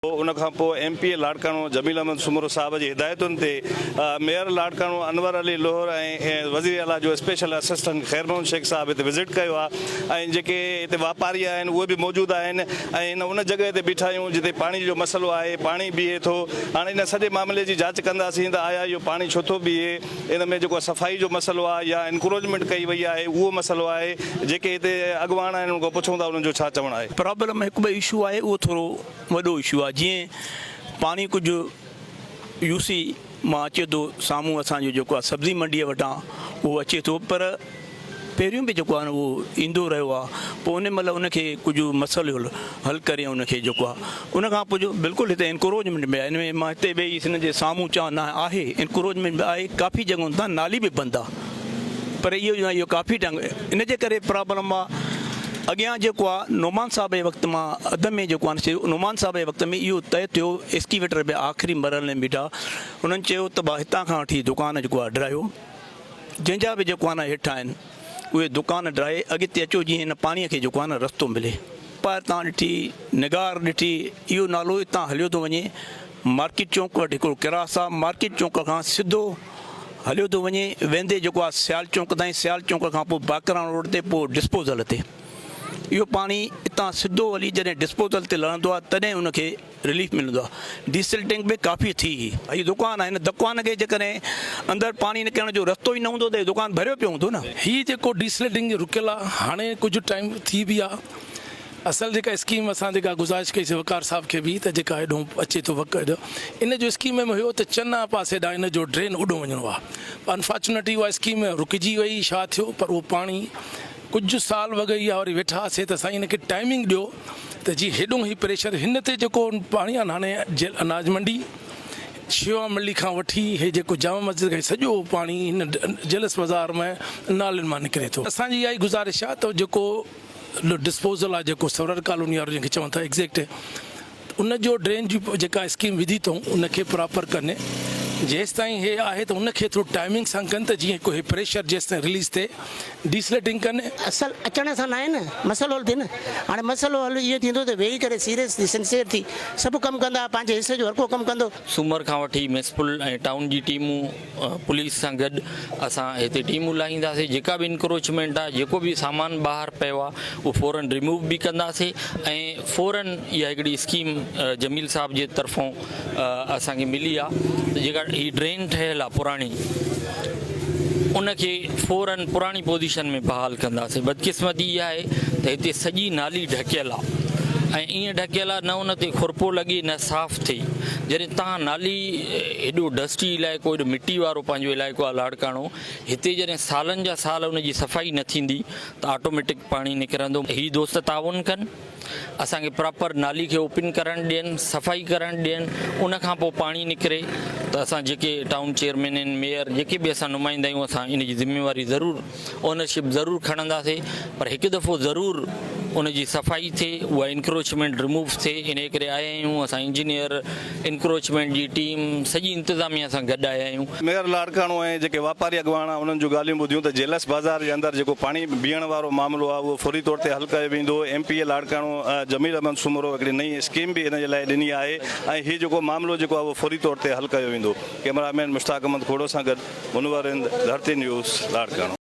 ان کان پوء M P A Larkana Jamil Ahmed Soomro صاحب جي هدايتن تي ميئر لاڙڪاڻو انور علي لوهر ۽ وزير اعليٰ جو اسپيشل اسسٽنٽ خير محمد شيخ صاحب هتي وزٽ ڪيو آهي ۽ جيڪي هتي واپاري آهن اهي به موجود آهن ۽ هن ان جڳهه تي بيٺا آهيون جتي پاڻي جو مسئلو آهي پاڻي بيهي ٿو هاڻي ان سڄي معاملي جي جاچ ڪنداسين ته آيا اهو پاڻي ڇو ٿو بيهي ان ۾ جيڪو صفائي جو مسئلو آهي يا انڪروچمينٽ ڪئي وئي آهي اهو مسئلو آهي جيڪي هتي اڳواڻ آهن انهن کان پڇون ٿا انهن جو ڇا چوڻ آهي. پرابلم هڪ ٻئي اشو آهي اهو ٿورو وڏو اشو آهي جيئن پاڻي ڪجهه يو سي مان اچي ٿو سامهون اسان جو جيڪو آهي سبزي منڊيء وٽان اهو اچي ٿو پر پهريون به جيڪو آهي نه اهو ايندو رهيو آهي پوء ان مهل ان کي ڪجهه مسئلو حل ڪري ان کي جيڪو آهي ان کان پوء جو بلڪل هتي انڪروجمينٽ به آهي ان ۾ مان هتي ويهي سنڌ جي سامهون چوان نه آهي انڪروجمينٽ به آهي ڪافي جڳهن تان نالي به بند آهي پر اهو جو آهي اهو ڪافي ٽائيم ان جي ڪري پرابلم آهي اڳيان جيڪو آهي نعمان صاحب جي وقت مان اڌ ۾ جيڪو آهي نعمان صاحب جي وقت ۾ اهو طئي ٿيو اسڪيويٽر به آخري مرحلي ۾ بيٺا انهن چيو ته هتان کان وٺي دڪان جيڪو آهي ڊراهيو جنهن جا به جڪوانا هيٺ آهن اهي دڪان ڊاهي اڳتي اچو جيئن هن پاڻي کي جڪوانا رستو ملي. ٻاهر تان ڏٺي نگار ڏٺي اهو نالو اتان هليو ٿو وڃي مارڪيٽ چونڪ وٽ هڪڙو ڪراس آهي مارڪيٽ چونڪ کان سڌو هليو ٿو وڃي ويندي جيڪو آهي سيال چونڪ تائين سيال چونڪ کان پوء باقراڻو روڊ تي پوء ڊسپوزل تي اهو پاڻي اتان سڌو هلي جڏهن ڊسپوزل تي لهندو آهي تڏهن ان کي رليف ملندو آهي ڊيسل ٽينڪ به ڪافي ٿي هي دڪان آهي هن دڪان کي جيڪڏهن اندر پاڻي نڪرڻ جو رستو ئي نه هوندو ته هي دڪان ڀريو پيو هوندو نه. هي جيڪو ڊيسل ٽينڪ رڪيل آهي هاڻي ڪجهه ٽائيم ٿي به آهي اصل جيڪا اسڪيم اسان جيڪا گذارش ڪئي سي وقار صاحب کي به ته جيڪا هيڏو اچي ٿو وقت هيڏو ان جو اسڪيم ۾ هيو ته چنا پاسي ڏانهن ان جو ڊرين هوڏو وڃڻو آهي انفارچونيٽلي اها اسڪيم رڪجي وئي شا ٿيو پر اهو پاڻي ڪجهه سال وڳ اها وري ويٺا هئاسين ته سائين هن کي ٽائمنگ ڏيو ته جي هيڏو هي پريشر هن تي جيڪو پاڻي اناڻي جيل اناج منڊي شيوا ملي کان وٺي هي جيڪو جامع مسجد کان سڄو پاڻي هن جلس بازار ۾ نالين مان نڪري ٿو اسان جي اها ئي گذارش آهي ته جيڪو ڊسپوزل آهي جيڪو سورر ڪالوني وارو جنهن کي چون ٿا ايگزيڪٽ ان جو ڊرين جي جيڪا اسڪيم وڌي اٿئون ان کي پراپر ڪن جيستائين هي آهي ته ان کي ٿورو ٽائمنگ سان ڪن ته جيئن هي پريشر جيستائين رليز ٿئي ڊيسلٽنگ ڪن. اصل اچڻ سان ناهي نه مسئلو حل ٿئي نه هاڻي مسئلو حل ايئن ٿيندو ته ويهي ڪري سيريس ٿي سنسيئر ٿي سڀ ڪم ڪندا پنهنجي حصي جو هر ڪو ڪم ڪندو. سومر کان وٺي ميونسپل ۽ ٽائون جي ٽيمون پوليس سان گڏ اسان هتي ٽيمون لاهينداسين جيڪا به انڪروچمينٽ آهي جيڪو به سامان ٻاهر پيو آهي اهو فورن ريموو به ڪنداسين ۽ فورن اها هڪڙي اسڪيم جميل صاحب جي طرفون اسان کي ملي آهي جيڪا هي ڊرين ٺهيل آهي پراڻي ان کي فورن پراڻي پوزيشن ۾ بحال ڪنداسين بدقسمتي اها آهي ته هتي سڄي نالي ڍڪيل آهي ۽ ايئن ڍڪيل آهي نه ان تي خرپو لڳي نه صاف ٿئي جڏهن تان نالي ايڏو ڊسٽي علائقو ايڏو مٽي وارو پنهنجو علائقو آهي لاڙڪاڻو هتي جڏهن سالن جا سال ان جي صفائي نه ٿيندي ته آٽوميٽڪ پاڻي نڪرندو هي دوست تعاون ڪن اسان کي پراپر نالي کي اوپن ڪرڻ ڏين صفائي ڪرڻ ڏين ان کان پوء پاڻي نڪري ته اسان جيڪي ٽائون چيئرمين ميئر جيڪي به اسان نمائندا آهيون اسان ان جي ذميواري ضرور اونرشپ ضرور کڻنداسي پر هڪ دفعو ضرور ان جي صفائي ٿئي اها انڪروچمينٽ رموو ٿئي انهي ڪري آيا آهيون اسان انجنيئر انڪروچمينٽ جي ٽيم سڄي انتظاميا سان گڏ آيا آهيون. ميئر لاڙڪاڻو ۽ جيڪي واپاري اڳواڻ انهن جون ڳالهيون ٻڌيون ته جيلس بازار جي اندر جيڪو پاڻي بيهڻ وارو معاملو آهي اهو فوري طور تي حل ڪيو ويندو M P A Larkana Jamil Ahmed Soomro هڪڙي نئين اسڪيم به ان جي لاء ڏني آهي ۽ هي جيڪو معاملو جيڪو آهي اهو فوري طور تي حل ڪيو ويندو ڪيمرا مين مشتاق احمد کوڙو سان گڏ منور هند ڌرتي نيوز لاڙڪاڻو.